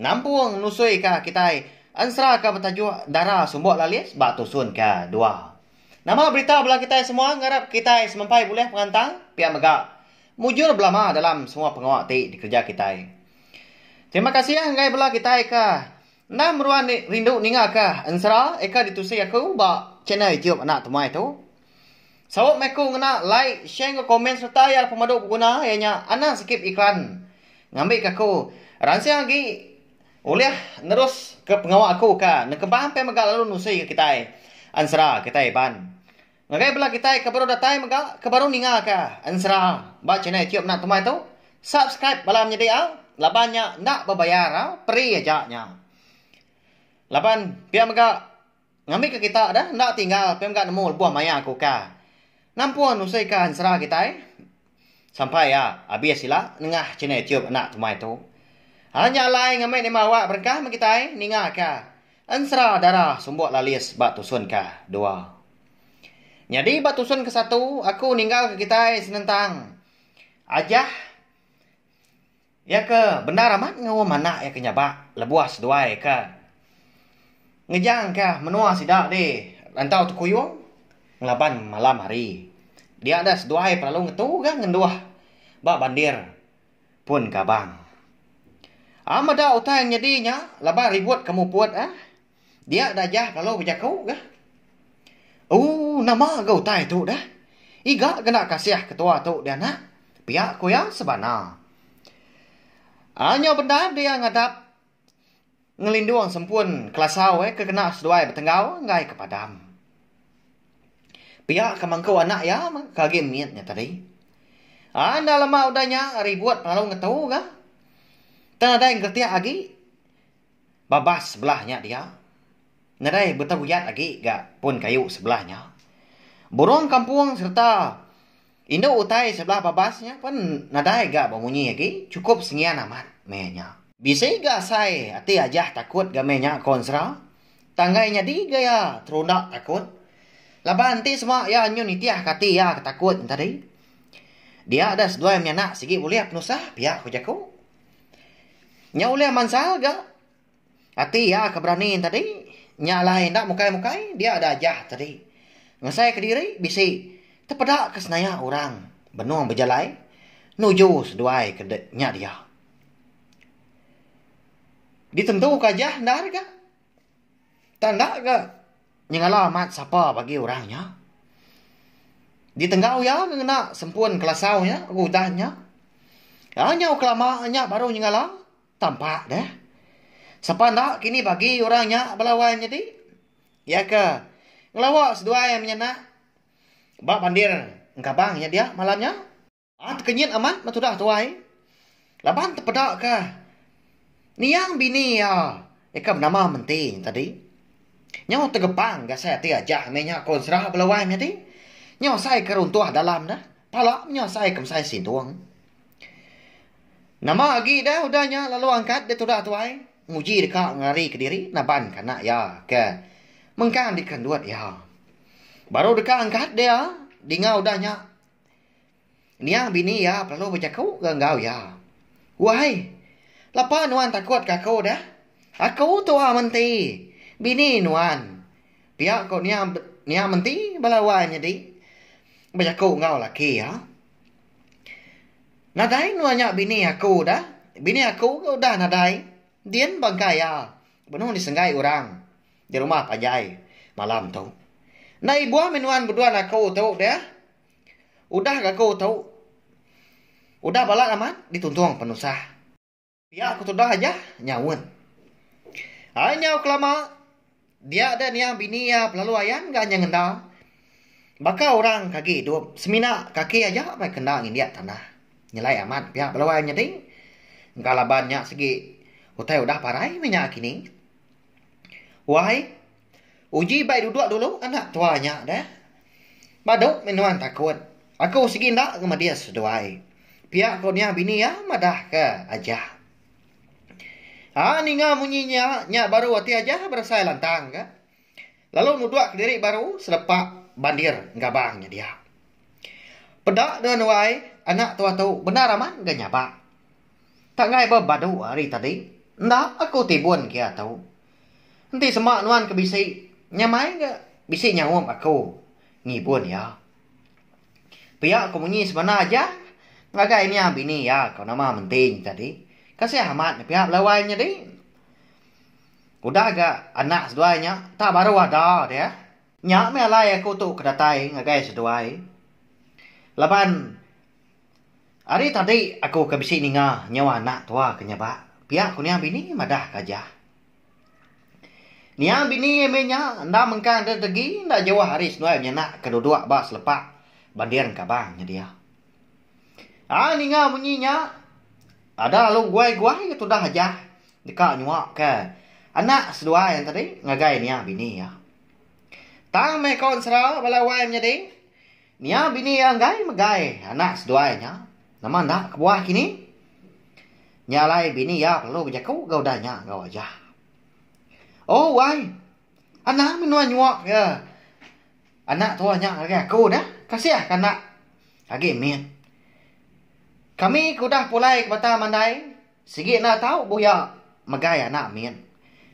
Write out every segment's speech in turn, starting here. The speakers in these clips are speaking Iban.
Nampung nusui ka kitai ensera ka betajuk Dara Sumbok Lalis ba tusun ka dua. Nama berita bela kitai semua ngarap kitai semempai bulih pengantang pia mega mujur belama dalam semua pengawa ti dikereja kitai. Terima kasih enggai bela kitai ka enda meruan rindu ninga ka ensera eka ditusi aku ba channel YouTube Anak Temuai tu. Saut mai ku ngena like, share enggau komen sereta iya pemadu beguna iya nya anang sikit iklan ngambi ke aku ransing agi ulih nerus ke pengawa aku ka nekebang pia mega lalu nusi ke kitai ensera kitai iban. Ngagai bala kitai ke baru datai mega ke baru ninga ka ensera ba channel YouTube enda temai tu subscribe bala menyadi au laban nya enda bebayar au free aja nya. Laban pia mega Ngambika kita deh enda tinggal ke mega nemu lebuh maya aku ka nampun usi ka ensera kitai. Sampai ya abis sila nengah channel YouTube anak tumai tu. Alah nya alai ngambi ni Marawak berengkah meh kitai ninga ka ensera dara sumbok lalis ba tusun ka dua. Nyadi ba tusun ke satu aku ninggal ka kitai senentang ajah. Iya ke bendar amat ngaum anak iya ke nyabak lebuh seduai ke ngejangka menua sida di Lantau Tekuyung ngelaban malam hari. Dia deh seduai pelalu ngetuga ngenduh ba bandir Pun Kabang. Am meda utai nyadi nya laban ribut ke muput eh. Dia Dajah lalu bejaku ga. Ooh nama ga utai tu dah. Iga kena kasih ketua tu di anak, pia ku iya sebana. Anyau bendar dia ngadap ngelindung sempun kelasau iya ke kena seduai betenggau enggai ke padam. Pia ke mangku anak iya ke agi mit nya tadi. Enda lama udah nya ribut lalu ngetu ga. Tang nadai ngeretik agi. Babas sebelah nya dia, nadai beteruyat agi ga pun kayu sebelah nya. Burung kampung sereta indu utai sebelah babas nya pun nadai ga bemunyi agi, chukup sengian amat meh nya. Bisi ga asai ati Ajah takut ga meh nya ko Ensera. Tang enggai nyadi ga iya terunda takut laban enti sema iya nyun nitihka ati iya ke takut nya tadi, dia deh seduai menyanak sigi ulih penusah pia ko jaku. Nya ulih mansal ga ati iya ke berani tadi. Nya alai enda mukai-mukai dia da ajah tadi. Ngasai kediri bisi tepeda ke senaya orang benung bejalai nuju seduai ke nya dia. Ditentuka ajah endar ga. Tang enda ga nyengala amat sapa bagi orang nya. Ditenggau iya ke ngena sempun kelasau iya ke udah nya. Iya nyau kelama nya baru nyengala tampak deh. Sapa enda kini bagi orang nya bala wai nyadi. Iya ke ngelawa seduai menyena ba bandir engkabang nya dia malam nya. Aa tekenyit amat ba tudah tuai laban tepeda ka niang bini iya nyeka benama menti nya tadi. Nyau tegepang gasai ati aja meh nya ko Ensera bala wai meh ati. Nyau asai ke runtuh dalam dah pala meh nya asai ke mesai sintung. Nama agi dah udah nya lalu angkat da tudah tuai nguji deka ngari kediri naban ka anak iya ke mengkang di kendut iya. Baru deka angkat dia dinga udah nya. Nia bini iya pelalu bejaku ga enggau iya. Wahai, lapa nuan takut ka aku dah? Aku tua menti, bini nuan. Pia ko nia nia menti bala wai nyadi bejaku enggau laki iya. Nadai nuan nya bini aku dah. Bini aku ga udah nadai. Din bangkai iya benung disenggai orang. Di rumah pa aja ai malam tu. Enda ibuh mih nuan beduan aku tu deh. Udah ga aku tu. Udah balat amat dituntung penusah. Pia ku tudah aja nyaut. Ai nyau kelama dia deh niang bini iya belalu ayan ga nya ngenda. Baka orang ke agi idup semina kaki aja meh kena ngindik tanah. Nyelai amat pia belalu ayan nyadi. Engka laban nya sigi utai udah parai mih nya kini. Wai, uji bai duduk dulu enda tua nya deh. Badu mih nuan takut. Aku sigi enda ke medis seduai. Pia ko niah bini iya madah ke Ajah. Aa ninga munyi nya, nya baru ati Ajah beresai lantang ke. Lalu nuduk kediri baru serepak bandir gabang nya dia. Peda nuan wai, anak tua tu bendar amat ga nyabak. Tanggai ba badu hari tadi. Enda aku ti bun ke iya tu. Enti sema nuan ke bisi nyamai ga bisi nyaup aku ngibun iya. Pia aku munyi semana aja ngagai nia bini iya ko nama Menting tadi. Kasih amat ne pia belawai nyadi. Udah ga anak seduai nya tak baru ada dia. Nya meh alai aku tu ke datai ngagai seduai. Laban. Ari tadi aku ke bisi ninga nyau anak tua ke nyabak pia ku nia bini madah ke aja. Nia bini iya meh nya enda mengkang deh tegi enda jauh ari seduai benyanak ke duduk ba selepa banding Kabang nyedia. Ai ninga munyi nya ada lalu beguai-guai ke tudah aja deka nyua ke anak seduai tadi ngagai nia bini iya. Tang meh kaun sera bala wai menyadi. Nia bini iya enggai megai anak seduai nya? Nama enda kebuah kini? Nya alai bini iya perlu bejaku ga udah nya enggau Ajah. Oh wai. Anang mih nuan nyuak iya anak tuah nya ngagai aku dah. Kasih ka enda agi mit. Kami ke udah pulai ke bata mandai. Sigi enda tau buya megai anak min.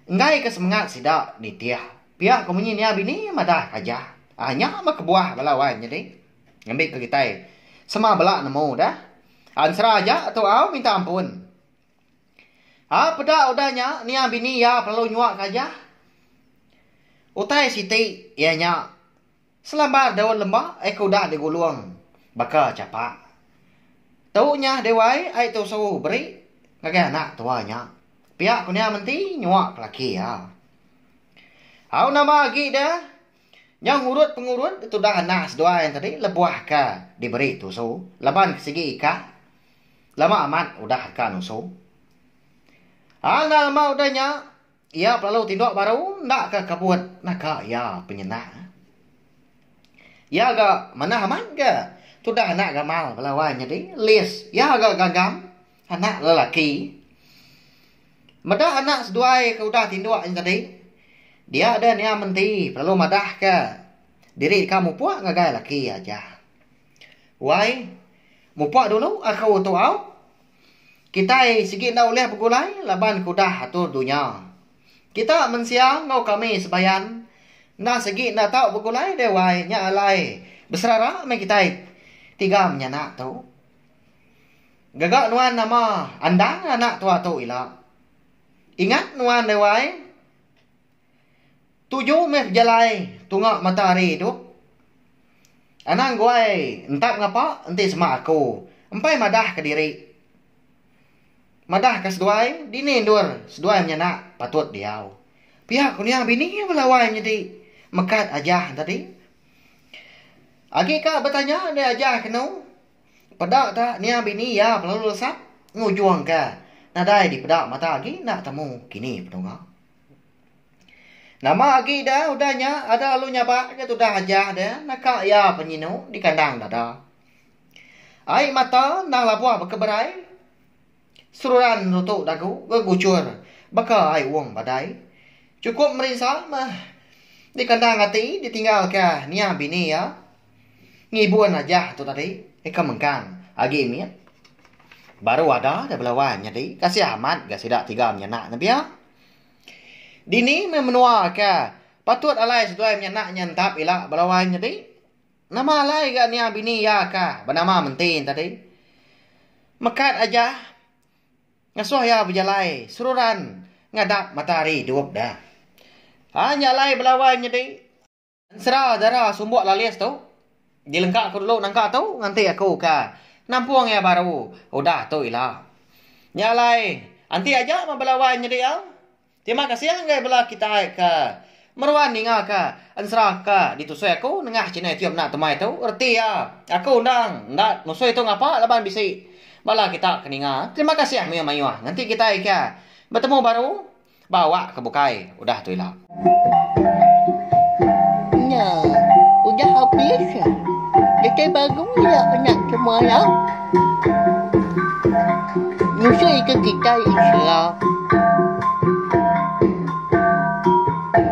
Enggai ke semengat sida nitih. Pia ko munyi nia bini madah kaja. Ah nya meh kebuah bala wan nyadi. Ngambi ke kitai sema bela nemu dah. Ah ensera aja tu au minta ampun. Ah peda udah nya nia bini iya perlu nyuak kaja. Utai siti iya nya. Selambar daun lembak ai ke udah digulung baka chapa. Tu nyah deh wai ai tu suruh beri ngagai anak tua nya. Pia ku nya menti nyua ke laki iya. Au nama agi deh nyau ngurut pengurut ditudah anak seduai tadi lebuh ke diberi tusu laban ke sigi ika lama amat udah ka nusu. Al nama udah nya Iya pelalu tindok baru enda ka kabut naka iya penyenang. Iya ga manah amat ga tudah anak gamal bala wai nyadi lis iya ga gagam anak lelaki. Meda anak seduai ke udah tindok nyadi dia da nia menti pelalu madah ka diri ka mupok ngagai laki aja. Wai mupok dulu aku tu au. Kitai sigi enda ulih begulai laban ke udah atur dunya. Kita mensia enggau kami sebayan enda segi enda tau begulai deh wai nya alai beserara meh kitai tiga menyanak tu. Gaga nuan nama andang anak tua tu ila. Ingat nuan deh wai. Tuju meh bejalai tunga mata hari tu. Anang guai entap ngapa enti sema aku empai madah ke diri. Madah ke seduai dini endur seduai menyana patut diau. Pia ku nia bini bala wai nyadi mekat aja tadi. Agi ka betanya dei aja kenu peda ta nia bini iya pelalu lesap ngujung ke nadai dipeda mata agi enda temu kini penunga. Nama agi da udah nya ada lalu nyabak ke tudah aja da naka iya penyinu di kandang dada. Ai mata nang labuh baka berai seruran rutu dagu ke gucur baka ai uong badai. Chukup merinsa meh di kandang ati ditinggal ke nia bini iya. Ngibun aja tu tadi ika mengkang agi mit baru ada ja bela wan nyadi kasih amat ga sida tiga menya anak ne pia. Dini meh menua ke patut alai seduai menya anak nya entap ila bela wan nyadi. Nama alai ga nia bini iya ka benama menti ne tadi. Mekat aja ngesuh iya bejalai seruran ngadap matahari idup da. Anya alai bela wan nyadi. Ensera Dara Sumbok Lalis tu dilengka aku dulu nangka tu nganti aku ka nampung iya baru udah tu ila. Nya alai enti aja meh bela wai nyadi iya. Terima kasih enggai bela kitai ke meruan ninga ka ensera ka ditusui aku nengah channel YouTube enda temai tu reti iya aku endang enda nusui tu ngapa laban bisi bala kita ke ninga. Terima kasih mayuh-mayuh nganti kitai ka betemu baru. Ba awak ke bukai. Udah tu ila. Nya. Udah habis. Kitai baru ila anak semaya. Ngusoi ke kitai isra.